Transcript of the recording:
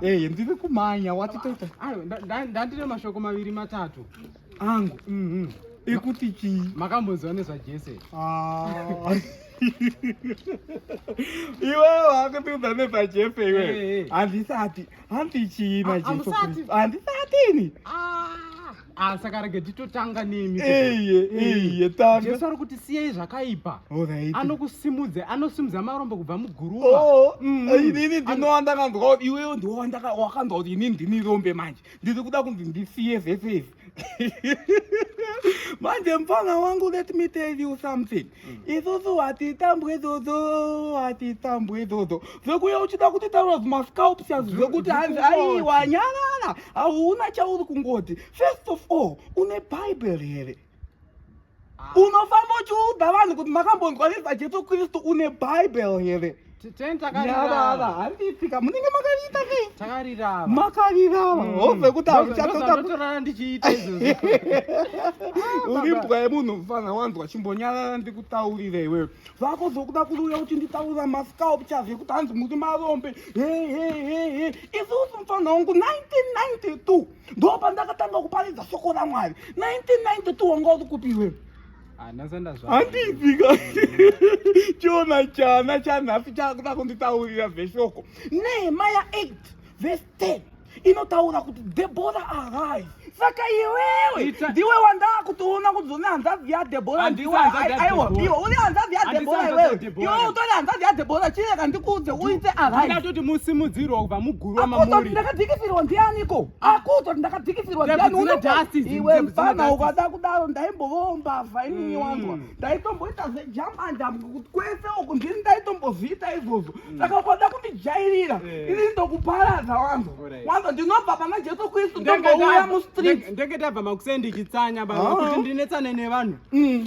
Hey, ndiri kumhanya wati toita. Ayo ndandine mashoko maviri matatu angu. Mhm. Mm Ekuti chi makambonzwa nezva Jesse. Ah. Iwe wakupinda nepa Jesse iwe. Eh, eh. Handisati. Handi chi na ah, Jesse. Handisati ni. Ah. Ah, saka rege titotanga nemi iye iye tanga jesu ari kuti siyai zvakaipa anokusimudza anosimudza marombo kubva muguruva oh, mm. eh, inini ndinowa ndakanzwa kuti iwewe ndiwo wakanzwa kuti inini ndini rombe manje ndiri kuda kunzi ndisiye zvese izvi manje mfana wangu let me tell you something isusu hatitambwe dzodzo hatitambwe dzodzo zvekuya uchida kuti taura zvimascalpsias zvekuti hanzi aiwa nyanana hauna chauri kungoti first of all une bible here ah. unofamba uchiudza vanhu kuti makambonzwa nezvajesu kristu une bible here Teni takarira ava. Nyava ava handipika munenge makariita nei? Takarira ava. Makarira ava. Mm. Hove kuti hauchatoda kutorara ndichiita izvozvo. Uri mbwa yemunhu mfana wanzwa chimbonyarara ndikutaurira iwewe. Vako zvokuda kuuya kuti nditaurira mascalp chazve kuti hanzi muri marombe. He he he he. Isusu mfana wangu 1992 ndopandakatanga kuparidza soko raMwari. 1992 wanga uri kupi iwewe? handipika chiona chana chanhafi chakuda kunditaurira veshoko nehemaya 8 vese 10 inotaura kuti debora arise saka iwewe ndiwe wandaa kutoona kuti une hanzvadzi yadebora ndiweaiwa iwe uri hanzvadzi yadebora iwewe iwe utori hanzvadzi yadebora chireka ndikuudze uite arise ndatoti musimudzirwa kubva muguru wamamuri ndakadhikisirwa ndianiko akuto ndakadzikisirwa iwe mfana ukada kudaro ndaimbovawo mbavha inini mm. wanzwa ndaitomboita zvejambanja kuti kwese uku ndini ndaitombozviita izvozvo mm. saka ukada kundijairira eh. inini ndokuparadza wanzwa wanzwa ndinobva pana jesu kristu ndongouya mustreet ndenge tabva makusei ndichitsanya baba ah. kuti ndinetsane nevanhu mm.